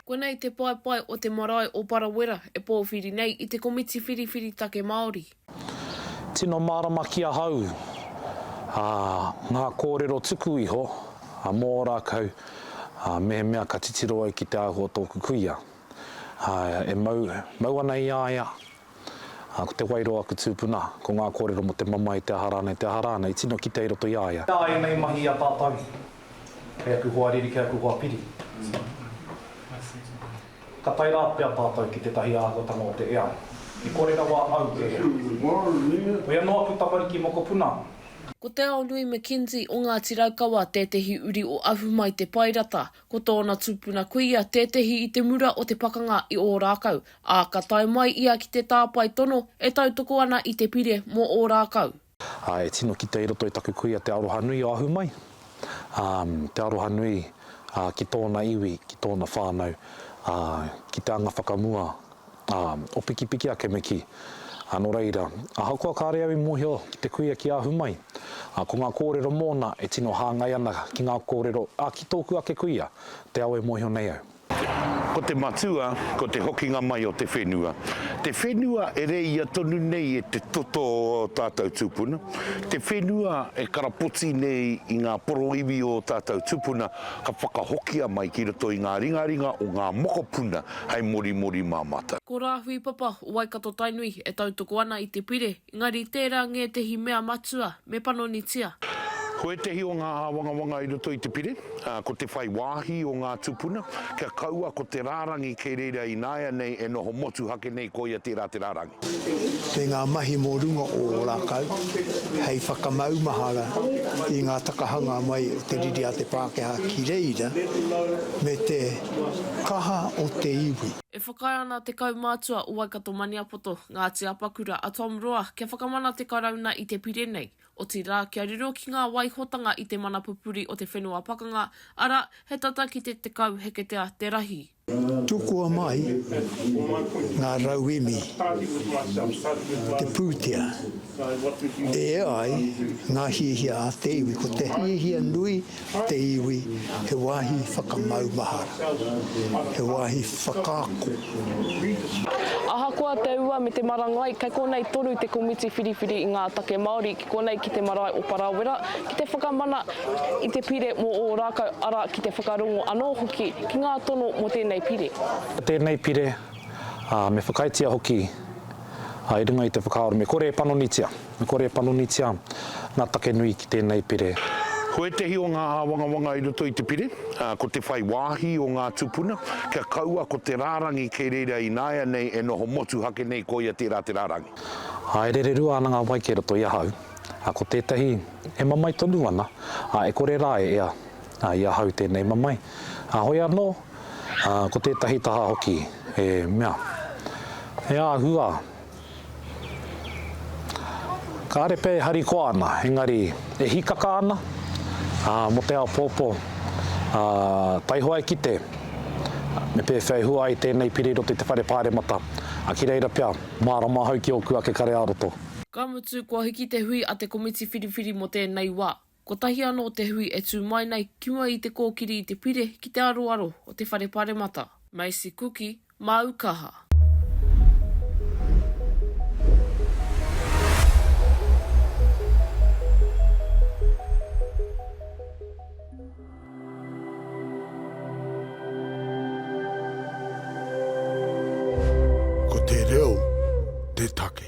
Konei te paepae o te marae o Parawera e pōwhiri nei i te komiti whiriwhiri take Māori. Tino mārama ki ahau ngā kōrero tuku iho mō Ōrākau mehemea ka titiro au ki te āhua o tōku kuia e mau ana i a ia Ā, ko Te Wairoa aku tūpuna, ko ngā kōrero mō te mamae, te aha rānei, te aha rānei, i tino kitea i roto i a ia. Nā ēnei mahi i a tātou, kei aku hoa riri, kei aku hoa piri, ka tae rā pea tātou ki tētahi āhuatanga o te ea i kore rawa au te ea. Koia nō aku tamariki mokopuna. Ko Te Aonui McKenzie o Ngāti Raukawa tētehi uri o Ahumaitepaerata, Ko tōna tupuna kuia tētehi i te mura o te pakanga i Ōrākau, ā, ka tae mai ia ki te tāpae tono e tautoko ana i te pire mō Ōrākau. Ā, e tino kite i roto i taku kuia te aroha nui o ahu mai, ā, te aroha nui, ā, ki tōna iwi, ki tōna whānau, ā, ki te anga whakamua Ā, o pikipiki a Kemeki. Ā, nō reira, ahakoa kāre au i mōhio ki te kuia ki ahu mai, ā, ko ngā kōrero mōna e tino hāngai ana ki ngā kōrero, ā, ki tōku ake kuia, te ao e mōhio nei au. Ko te matua, ko te hokinga mai o te whenua. Te whenua e reia tonu nei e te toto o ō tātou tūpuna, te whenua e karapoti nei i ngā poroiwi o ō tātou tūpuna ka whakahokia mai ki roto i ngā ringaringa o ngā mokopuna, hei morimori mā matou. Ko Rāhui Papa o Waikato Tainui e tautoko ana i te pire, engari tērā ngētehi mea matua me panonitia. Ko ētehi o ngā āwangawanga i roto i te pire, ko te whai wāhi o ngā tūpuna kia kaua ko te rārangi kei reira ināianei e noho motuhake nei koia tērā te rārangi. Kei ngā mahi mō runga o ō rākau hei whakamaumahara i ngā takahanga mai o te riri a te Pākehā ki reira me te kaha o te iwi. E whakaae ana te kaumātua o Waikato-Maniapoto, Ngāti Apakura, a Tom Roa, kia whakamana te Karauna i te pire nei, otirā, kia riro ki ngā waihotanga i te mana pupuri o te whenua pakanga, arā, he tata ki te 10 heketea te rahi. Tukua mai ngā rauemi te pūtea e ea ai ngā hiahia a te iwi. Ko te hiahia nui te iwi he wāhi whakamaumahara, he wāhi whakaako. Ahakoa te ua me te marangai, kei konei toru te komiti whiriwhiri i ngā take Māori. Konei ki te marae o Parawera, ki te whakamana i te pire mō Ōrākau, arā, ki te whakarongo anō hoki ki ngā tono mō tēnei pire. Mō tēnei pire, ā, me whakaaetia hoki, ā, i runga i te whakaaro me kore e panonitia, me kore e panonitia ngā take nui ki tēnei pire. Ko ētehi o ngā āwangawanga i roto i te pire, ā, ko te whai wāhi o ngā tūpuna, kia kaua ko te rārangi kei reira ināianei e noho motuhake nei koia tērā te rārangi. Haerere rua ana ngā wai kei roto i ahau, ā, ko tētahi e mamae tonu ana, ā, e kore rā e ea, ā, i ahau tēnei mamae, ā, hoi anō, ā, ko tētahi taha hoki e mea, E ahu ā! Kāre pea e harikoa ana, engari e hīkaka ana, ā, mō te āpōpō, ā, taihoa e kite, me pēwhea e hua ai tēnei pire i roto i te whare pāremata, ā, ki reira pea. Mārama ahau ki ōku ake kare ā-roto. Ka mutu, kua hiki te hui a te komiti whiriwhiri mō tēnei wā. Kotahi anō te hui e tū mai nei ki mua i te kōkiri i te pire ki te aroaro o te Whare Paremata. Macy Kuki, māu kaha. Ko te reo te take.